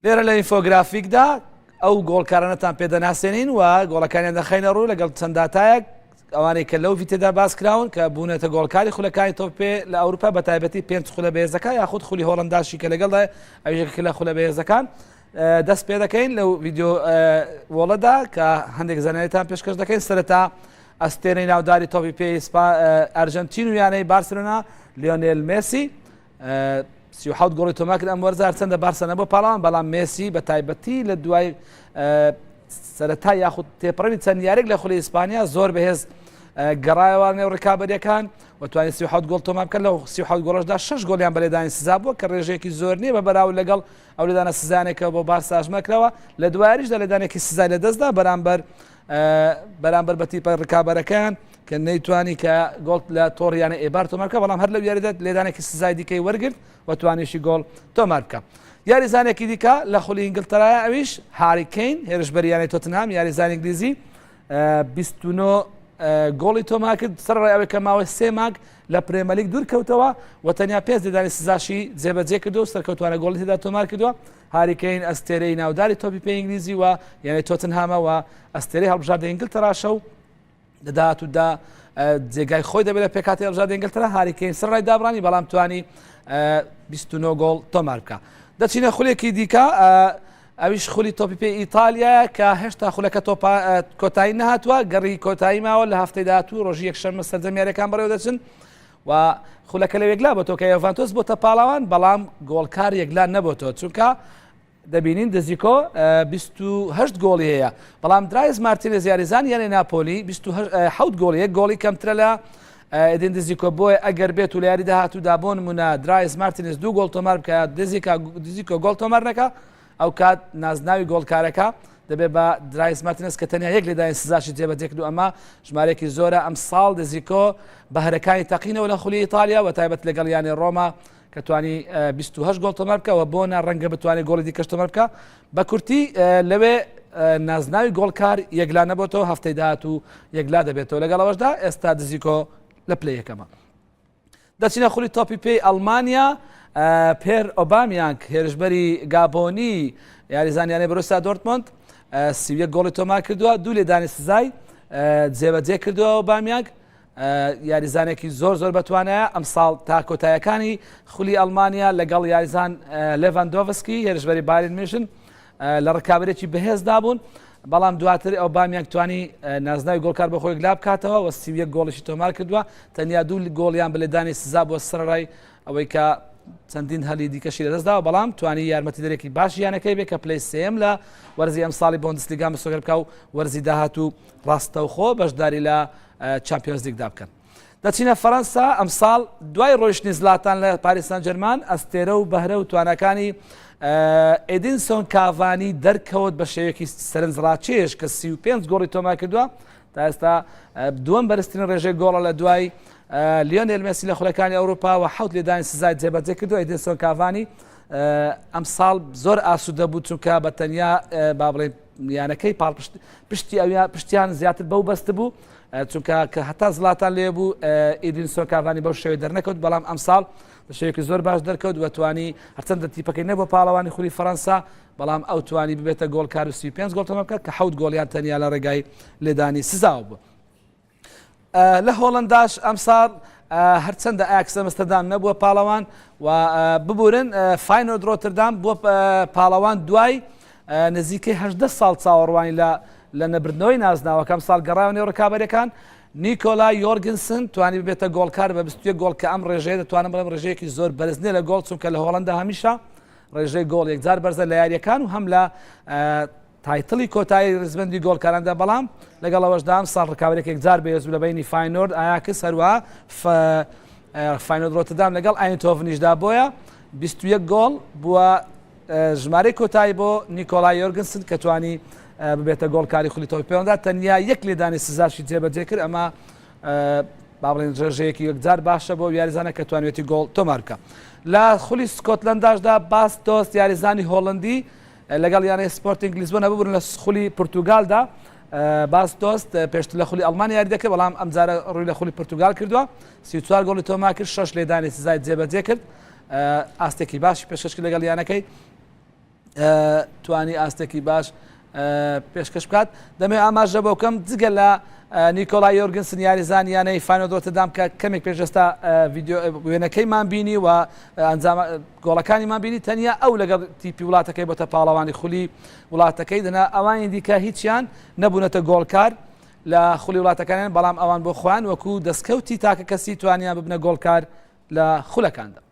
لێرە لە ئینفۆگرافیکدا ئەو گۆڵکارانەتان پێ دەناسێنین و گۆڵەکانیان دەخینە ڕوو لەگەڵ چەند داتایەک ئەوانەی کە لەو ڤیتێدا باس کراون کە بوونەتە گۆڵکاری خولەکانی تۆپێ لە ئەوروپا بە تایبەتی پێنج خولە بەێزەکە یاخود خولی هۆڵنداشی کە لەگەڵدا ئەوژێک لە خولە بەێزەکان دەست پێ دەکەین لەو ویددیو وڵەدا کە هەندێک زانێتان پێشکەش دەکەین سەرەتا ئەستێنەی ناوداری تۆپی پێی ئەرجنتین و یانەی بارسلونا لیۆنێل مسی سی و حەوت گۆڵی تۆمار کرد ئەم وەرزە هەرچەندە بارسە نەبووە پاڵەوان بەڵام مێسی بە تایبەتی لە دوای سەرەتا یاخود تێپەڕەوی چەند یاریک لە خولی ئیسپانیا زۆر بەهێز گەڕایەوان نێو ڕکابەرەکان و توانانی سی حوت گۆڵ تۆمام بکەن لە سی حوت گۆڵشدا شش گۆلیان بەلێدانی سزا بووە کە ڕێژێکی زۆر نییە بە بەراو لەگەڵ ئەو لەدانە سزانێکەوە بۆ بارساژمەکرەوە لە دوایریشدا لەدانێکی سزای لە دەستدا بەرامبەر بەرامبەر بە تیپە ڕکابەرەکەیان کە نەیتوانی کە گۆڵ لە تۆڕیانە ئێبار تۆمار بکە بەڵام هەر لەو یاریدە لێدانێکی سزای دیکەی وەرگرت و توانیشی گۆڵ تۆمار بکە یاریزانێکی دیکە لە خولی ئینگلتەرایە ئەویش هاریکەین هێرشبەریانەی تۆتنهام یاریزان ئینگلیزی 29 گۆڵی تۆمار کرد سەر ڕای ئەوەی کە ماوەی سێ ماگ لە پرێمەلیک دوور کەوتەوە و تەنیا پێنج ددانی سزاشی جێبەجێ کردو سەرکەوتوانە گۆڵی تێدا تۆمار کردووە هاری کەین ئەستێرەی ناوداری تۆپی پێی ئینگلیزی و یانەی تۆتنهامە و ئەستێرەی هەڵبژاردە ئینگلتەراشە و لە داهاتوودا جێگای خۆی دەبێت لە پێکاتی هەڵبژاردە ئینگلتەرا هاری کەین سەر ڕای دابڕانی بەڵام توانی 29 گۆڵ تۆمار بکە دەچینە خولێکی دیکە ئەویش خولی تۆپی پێ ئیتالیا کە هێشتا خولەکە تۆپا کۆتایی نهاتوە گەڕی کۆتایی ماوە لە هەفتەی داهاتوو ڕۆژی یەکشەممە سەرجەمیارەکان بەڕێوە دەچن و خولەکە لە یەکلا بۆتەوە کە یۆڤانتۆس بۆتە پاڵەوان بەڵام گۆڵکار یەکلا نەبۆتەوە چونکە دەبینین دزیکۆ 28 گۆڵی هەیە بەڵام درایز مارتینە زیارزان یانە ناپۆلی 27 گۆڵ یەک گۆڵی کەمترە لە ئەدین دزیکۆ بۆیە ئەگەر بێت و لە یاری داهاتوودا بۆن منە درایز مارتینز دوو گۆڵ تۆمار بکە دزیکا دزیکۆ گۆڵ تۆمار نەکە ئەوکات نازناوی گۆڵکارەکە دەبێت بە درایس مارتینێز کە تەنیا یەک لێدانی سزاشی جێ بەجێکرد و ئەمە ژمارەیەکی زۆرە ئەمساڵ دزیکۆ بەهرەکانی تەقینەوە لە خولی ئیتالیا بە تایبەت لەگەڵ یانەی ڕۆما کە توانی 28 گۆڵ تۆمار بکە و بۆنە ڕەنگە بتوانێت گۆڵی دیکەش تۆمار بکە بە کورتی لەوێ نازناوی گۆڵکار یەکلا نەبێتەوە هەفتەی داهات و یەکلا دەبێتەوە لەگەڵەوەشدا ئێستا دزیکۆ لە پلەیەکەمە دەچینە خولی تۆپی پێی ئەڵمانیا پێر ئۆبامیانگ هێرشبەری گابۆنی یاریزانیانەی بروسا دۆرتمۆند سیویە گۆڵی تۆمار کردووە دوو لێدانی سزای جێبەجێ کردووە ئۆبامیانگ یاریزانێکی زۆر زۆر بەتوانە ئەم ساڵ تا کۆتایەکانی خولی ئەلمانیا لەگەڵ یاریزان لێڤان دۆڤسکی هێرشبەری بارین میشن لە ڕکابەرێکی بەهێزدا بوون، بەڵام دواتر ئۆبامیانگ توانی نازناوی گۆڵکار بۆ خۆی یەکلا بکاتەوە و سی و یەک گۆڵیشی تۆمار کردووە، تەنیا دوو گۆڵیان بە لێدانی سزا بووە سەرەڕای ئەوەی کە چەندین هەلی دیکەشی لەدەستداوە بەڵام توانی یارمەتیدەرێکی باش یانەکەی بێ کە پلەی سێم لە وەرزی ئەمساڵی بۆندسلیگا مسۆگەر بکە و وەرزی داهات و ڕاستەوخۆ بەشداری لە چمپیۆنزلیگدا بکەن. دەچینە فەرەنسا، ئەمساڵ دوای ڕۆیشتنی زلاتان لە پاریس سانجەرمان، ئەستێرە و بەهرە و تواناکانی ئێدینسۆن کاڤانی دەرکەوت بە شێوەیەکی سەرنجڕاکێش کە 35 گۆڵی تۆمار کردووە، تا ئێستا دووەم بەرزترین ڕێژەی گۆڵە لە دوای لیۆنێل مێسی لە خولەکانی ئەوروپا و حەوت لێدانی سزای جێبەجێ کردووە، ئێدینسۆن کاڤانی ئەمساڵ زۆر ئاسوودە بوو چونکە بە تەنیا با بڵێین یانەکەی پاڵپشت پشتی ئەویان پشتیان زیاتر بەو بەست بوو چونکە کە هەتا زلاتان لێ بوو ئیدین سۆکاڤانی بەو شێوەی دەرنەکەوت بەڵام ئەمساڵ بە شێوەیەکی زۆر باش دەرکەوت و توانی هەرچەندە تیپەکەی نەبوو پاڵەوانی خولی فەرەنسا بەڵام ئەو توانی ببێتە گۆڵکار و سی پێنج گۆڵ تەمەکە کە حەوت گۆڵیان تەنیا لە ڕێگای لێدانی سزاوە بوو لە هۆڵنداش ئەمساڵ هەرچەندە ئاکس ئەمستردام نەبووە پاڵەوان و ببورن فینۆ درۆتردام بۆ پاڵەوان دوای نزیکەی هەدە ساڵ چاوەڕوانی لە لە نەبردنەوەی نازناوەکەم ساڵ گەڕاوە نێو ڕکابەرەکان نیکۆلا یۆرگنسن توانی ببێتە گۆڵکار بە بستێ گۆڵ کە ئەم ڕێژەیە دەتوانم بڵێم ڕێژەیەکی زۆر بەرزنیە لە گۆڵ چونکە لە هۆڵندا هەمیشە ڕێژەی گۆڵ یەکجار بەرزە لە یاریەکان و هەم لە تایتڵی کۆتایی ریزبەندی گۆڵکاراندا، بەڵام لەگەڵ ئەوەشدا ئەمساڵ رکابەرێک یەکجار بەهێزبوو لە بەینی فاینۆرد ئایاکس هەروەها فاینۆرد رۆتردام لەگەڵ ئایندهۆڤنیشدا بۆیە بیست و یەک گۆڵ بووە ژمارەی کۆتایی بۆ نیکۆڵای یۆرگنسن کە توانی ببێتە گۆڵکاری خولی تۆپی پێوەندا تەنیا یەک لێدانی سزاشی جێبەجێ کرد ئەمە باڵێن ڕێژەیەکی یەکجار باشە بۆ یاریزانە کە توانێتی گۆڵ تۆمارکە لە خولی سکۆتلنداشدا باس تۆست یاریزانی هۆڵندی لەگەڵ یانەی سپۆرتینگ لیسبۆنە ببورن لە خولی پورتوگالدا باستۆس پێشتر لە خولی ئەڵمان یاری دەکرد بەڵام ئەمجارە ڕووی لە خولی پورتوگال کردووە سی چوار گۆڵی تۆما کرد شەش لێدانی سزای جێبەجێ کرد ئاستێکی باش پێشکەشکی لەگەڵ یانەکەی توانی ئاستێکی باش پێشکەش بکات دەمێ ئاماژە بۆ بکەم جگە لە نیکۆلا یۆرگنسن یاریزان یانەی فانۆدۆتەدام کە کەمێک پێشستا وێنەکەیمان بینی و ئەنجام گۆڵەکانی مان بینی تەنیا ئەو لەگەڵ تیپی وڵاتەکەی بۆتە پاڵەوانی خولی وڵاتەکەی دەنا ئەوانی دیکە هیچیان نەبوونەتە گۆڵکار لە خولی وڵاتەکانیان بەڵام ئەوان بۆ خۆیان وەکو دەستکەوتی تاکە کەسی توانیان ببنە گۆڵکار لە خولەکاندا